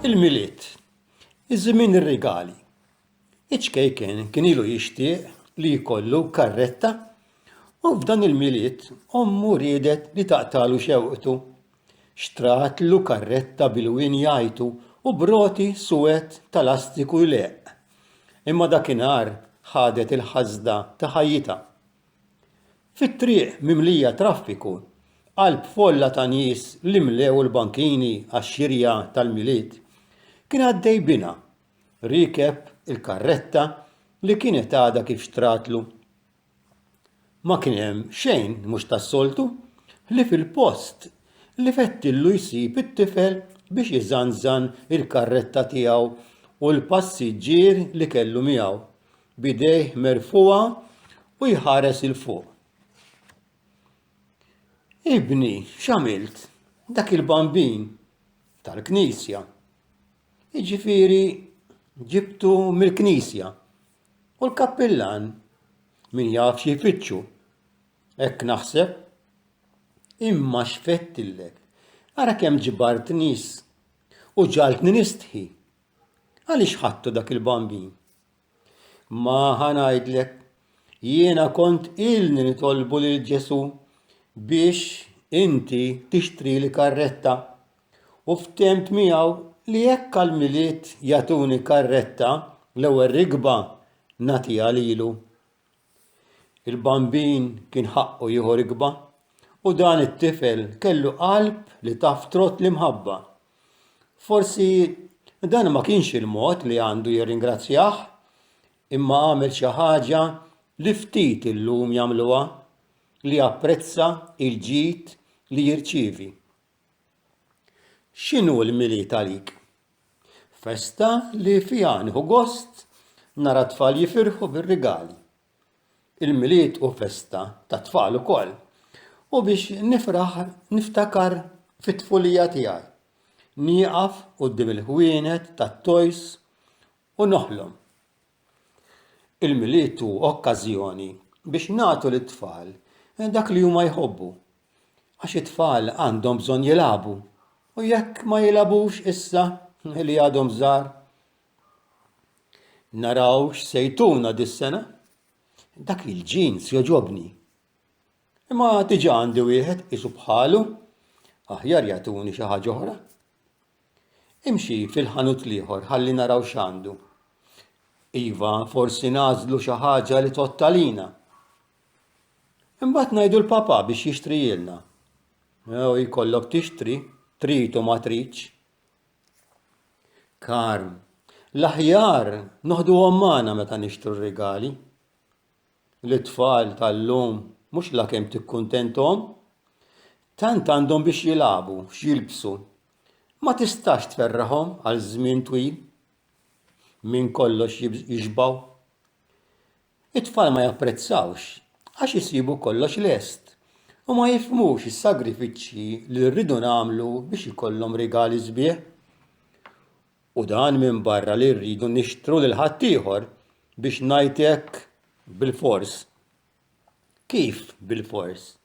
Il-Milied Iż-żmien ir-rigali. Iċ-ċkejken kien ilu jixtieq li jkollu karretta u f'dan il-Milied ommu riedet li taqtalu xewqtu Xtratlu karretta bil-wien jajtu u b'roti suwed ta' lastiku jleqq. Imma dakinhar ħadet il-ħasda ta' ħajjitha. Fit-triq mimlija traffiku, qalb folla ta' nies li mlew il-bankini għax-xirja tal-Milied, kien għaddej binha, riekeb il-karretta li kienet għadha kif xtratlu. Ma kien hemm xejn mhux tas-soltu ħlief il-post li fettillu jsib it-tifel biex iżanżan il-karretta tiegħu u l-passiġġier li kellu miegħu, b'idejh merfugħa u jħares 'il fuq. Ibni, x'għamilt? Dak il-bambin, tal-knisja, jiġifieri ġibtu mill-knisja. U l-kappillan? Min jaf xi jfittxu? Hekk naħseb. Imma x'fedtillek? Ara kemm ġbart nies u ġagħaltni nistħi! Għaliex ħadtu dak il-bambin? Ma ħa ngħidlek, jiena kont ilni nitolbu lil Ġesù biex inti tixtrili karretta u ftehmt miegħu li jekk għall-Milied jagħtuni karretta, l-ewwel rikba nagħtiha lilu. Il-bambin kien ħaqqu jieħu rikba u dan it-tifel kellu qalb li taf trott l-imħabba. Forsi dan ma kienx il-mod li għandu jirringrazzjah, imma għamel xi ħaġa li ftit illum jagħmluha, li japprezza l-ġid li jirċievi. X'inhu l-Milied għalik? Festa li fiha nieħu gost nara t-tfal jifirħu bir-rigali. Il-Milied hu festa tat-tfal ukoll u biex nifraħ niftakar fit-tfulija tiegħi. Nieqaf quddiem il-ħwienet tat-toys u noħlom. Il-Milied hu okkażjoni biex nagħtu lit-tfal dak li huma jħobbu, għax it-tfal għandhom bżonn jilagħbu u jekk ma jilagħbux issa li għadhom żgħar naraw x'se jtuna dis-sena. Dak il-ġins joġobni. Imma diġà għandi wieħed isu bħalu, aħjar jagħtuni xi ħaġa oħra. Imxi fil-ħanut l-ieħor ħalli naraw x'għandu. Iva, forsi nażlu xi ħaġa li tottalina. Imbagħad ngħidu l-Papa biex jixtrijilna. Jew jkollok tixtri, trid u ma tridx. Karm, l-aħjar noħduhom magħna meta nixtru r-rigali. L-itfal tal-lum mhux la kemm tikkuntentom, tant għandhom biex jilagħbu, x'jilbsu. Ma tistax tferraħhom għal żmien twil. Minn kollox jixbgħu. It-tfal ma japprezzawx għax isibu kollox lest u ma jifhmux is-sagrifiċċji li rridu nagħmlu biex ikollhom rigali sbieħ. U dan minbarra li rridu nixtru lil ħaddieħor biex ngħid hekk bilfors. Kif bilfors?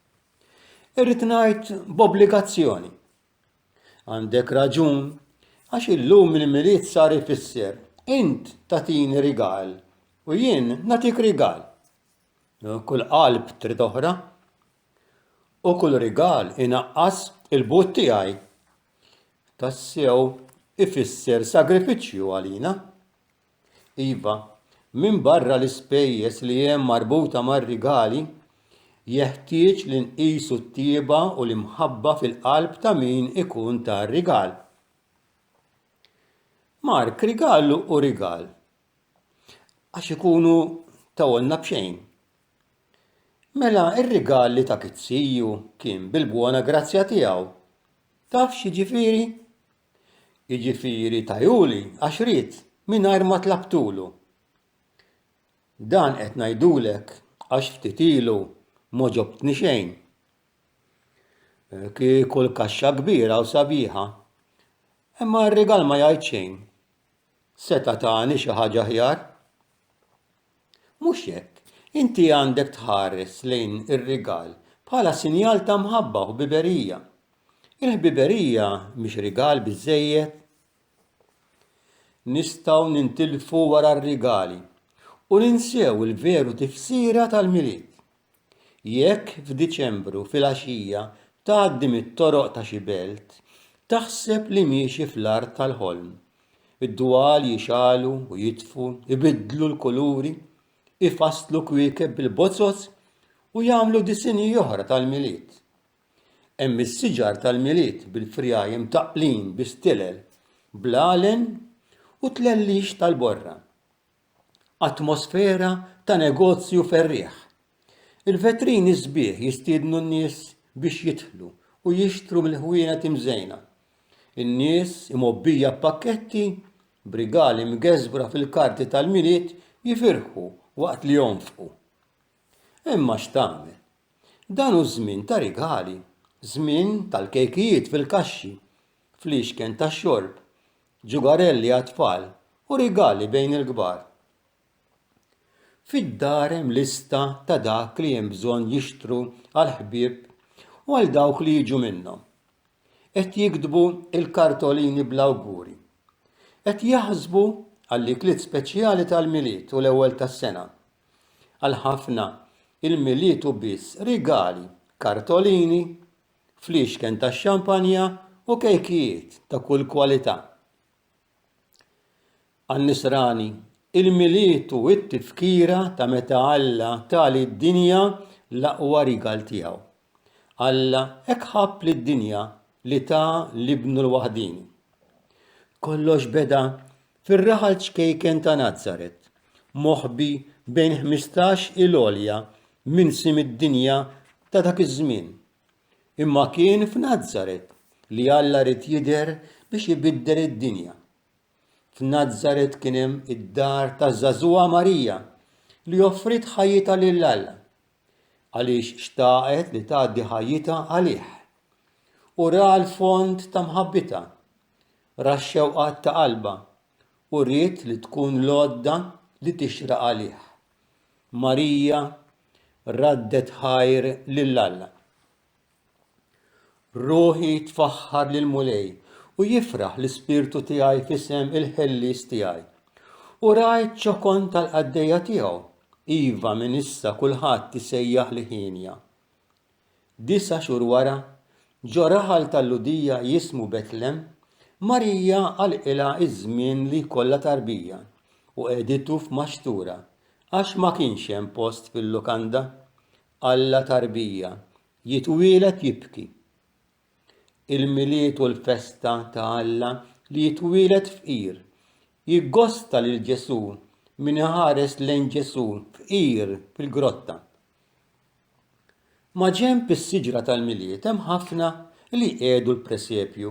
Irrid ngħid b'obbligazzjoni. Għandek raġun, għax illum il-Milied sar ifisser int tagħtini rigal u jien nagħtik rigal. Kull qalb trid oħra u kull rigal inaqqas il-but tiegħi. Tassew ifisser sagrifiċċju għalina. Iva, minbarra l-ispejjeż li hemm marbuta mar-rigali, jeħtieġ li nqisu t-tjieba u l-imħabba fil-qalb ta' min ikun ta r-rigal. Mark, rigal hu rigal, għax ikunu tawolna b'xejn. Mela r-rigal li ta kizziju kien bil-bwona grazzja tiegħu. Taf x'jiġifieri? Jiġifieri tajuli għax ried, mingħajr ma tlabtulu. Dan qed ngħidulek għax ftit ilu m'għoġobtni xejn. Kieku l-kaxxa kbira u sabiħa, imma r-rigal ma jgħid xejn. Seta' tani xi ħaġa aħjar. Mhux hekk, inti għandek tħares lejn ir-rigal bħala sinjal ta' mħabba u ħbiberija. Il-ħbiberija mhix rigal biżżejjed? Nistgħu nintilfu wara r-rigali u ninsew il-veru tifsira tal-Milied. Jekk f'Diċembru filgħaxija tgħaddi mit-toroq ta' xi belt, taħseb li miexi fl-art tal-ħolm. Id-dwal jixgħalu u jitfu, ibiddlu l-kuluri, ifasslu kwiekeb bil-bozzoz u jagħmlu disinji oħra tal-Milied. Hemm is-siġar tal-Milied bil-frjajm mtaqqlin bi stilel, bl-għalen u tlellix tal-borra. atmosfera ta' negozju ferrieħ. Il-vetrini sbieħ jistiednu n-nies biex jidħlu u jixtru mill-ħwienet imżejna. In-nies, imgħobbija b'pakketti, b'rigali mgeżwra fil-karti tal-Milied jifirħu waqt li jonfqu. Imma x'tagħmel? Dan hu żmien ta' rigali, żmien tal-kejkijiet fil-kaxxi, fliexken tax-xorb, ġugarelli għat-tfal u rigali bejn il-kbar. Fid-dar hemm lista ta' dak li hemm bżonn jixtru għall-ħbieb u għal dawk li jiġu minnhom. Qed jiktbu l-kartolini bl-awguri. Qed jaħsbu għall-ikliet speċjali tal-Milied u l-Ewwel tas-Sena. Għal ħafna, il-Milied hu biss rigali, kartolini, fliexken tax-xampanja u kejkijiet ta' kull kwalità. Għan-Nisrani, il-Milied hu t-tifkira ta' meta Alla ta lid-dinja l-aqwa rigal tiegħu. Alla hekk ħabb lid-dinja li ta l-Ibnu l-waħdieni. Kollox beda Fir-raħal ċkejken ta' Nazaret, moħbi bejn ħmistax il-għolja minsi mid-dinja ta' dak iż-żmien. Imma kien f'Nazaret li Alla ried jidher biex ibiddel id-dinja. F'Nazaret kien hemm id-dar taż-żagħżugħa Marija li offriet ħajjitha lil Alla għaliex xtaqet li tgħaddi ħajjitha għalih u ra l-fond ta' mħabbitha. ra x-xewqat ta' qalbha u ried li tkun l-għodda li tixraq għalih. Marija raddet ħajr lil Alla. Ruħi tfaħħar lill-Mulej u jifraħ l-ispirtu tiegħi f'isem il-ħellies tiegħi. U rajt ċokon tal-qaddejja tiegħu, iva minn issa kulħadd isejjaħ li ħinja. Disa' xhur wara, ġo raħal ta' Lhudija jismu Betlem, Marija għalqilha ż-żmien li jkollha tarbija u qegħditu f'maxtura għax ma kienx hemm post fil-lukanda. Alla tarbija, jitwieled jibki. Il-Milied u l-festa ta' Alla li jitwieled fqir. Jiggosta lil Ġesù min iħares lejn Ġesù fqir fil-grotta. Maġenb is-siġra tal-Milied hemm ħafna li jqiegħdu l-presepju,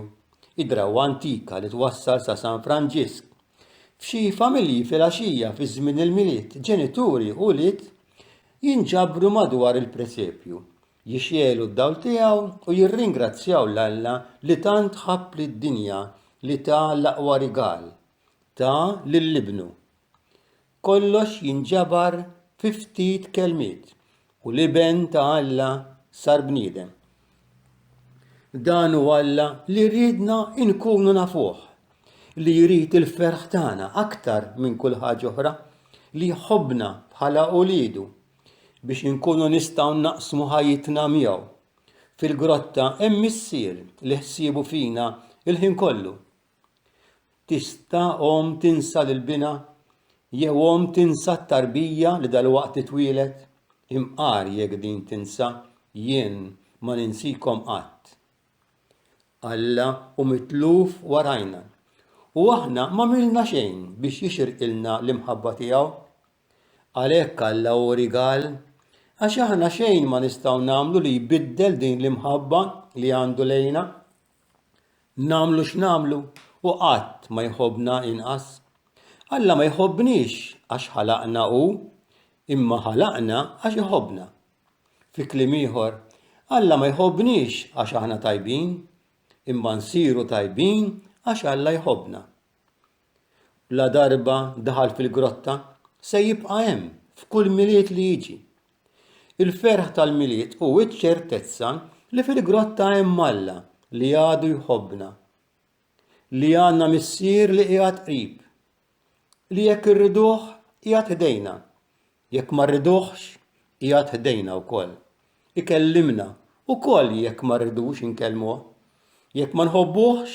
id-drawwa antika li twassal sa San Franġisk. F'xi familji filgħaxija fi żmien il-Milied, ġenituri u wlied jinġabru madwar il-presepju, jixegħlu d-dawl tiegħu u jirringrazzjaw 'l Alla li tant ħabb lid-dinja li ta l-aqwa rigal, ta lil ibnu. Kollox jinġabar fi ftit kelmiet, u l-Iben ta' Alla sar bniedem. Dan hu Alla li riedna nkunu nafuh, li jrid il-ferħ tagħna aktar minn kull ħaġa oħra, li jħobbna bħala uliedu biex inkunu nistgħu naqsmu ħajjitna miegħu. Fil-grotta hemm Missier li ħsiebu fina l-ħin kollu. Tista' omm tinsa lil binha? Jew omm tinsa t-tarbija li dalwaqt titwieled? Imqar jekk din tinsa, jien ma ninsikom qatt. Alla hu mitluf warajna, u aħna m'għamilna xejn biex jixirqilna l-imħabba tiegħu. Għalhekk Alla hu rigal, għax aħna xejn ma nistgħu nagħmlu li jbiddel din l-imħabba li għandu lejna. Nagħmlu x'nagħmlu u qatt ma jħobbna inqas. Alla ma jħobbniex għax ħalaqna hu, imma ħalaqna għax iħobbna. Fi kliem ieħor, Alla ma jħobbniex għax aħna tajbin, imma nsiru tajbin għax Alla jħobbna. ladarba daħal fil-grotta, se jibqa' hemm f'kull Milied li jiġi. Il-ferħ tal-Milied hu ċ-ċertezza li fil-grotta hemm Alla li għadu jħobbna, li għandna Missier li qiegħed qrib, li jekk irriduh qiegħed ħdejna. Jekk ma rriduhx, qiegħed ħdejna wkoll. Ikellimna wkoll jekk ma rridux inkellmuh. Jekk ma nħobbuhx,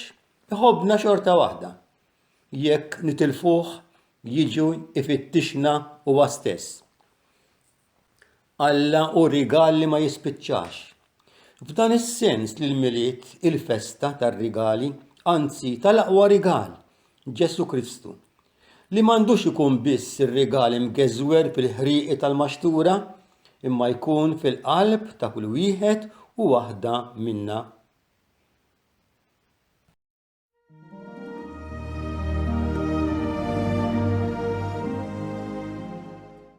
iħobbna xorta waħda. Jekk nitilfuh, jiġi jfittixna huwa stess. Alla hu rigal li ma jispiċċax. F'dan is-sens li l-Milied, il-festa tar-rigali, anzi tal-aqwa rigal, Ġesù Kristu, li m'għandux ikun biss ir-rigal imgeżwer fil-ħrieqi tal-maxtura imma jkun fil-qalb ta' kull wieħed u waħda minna.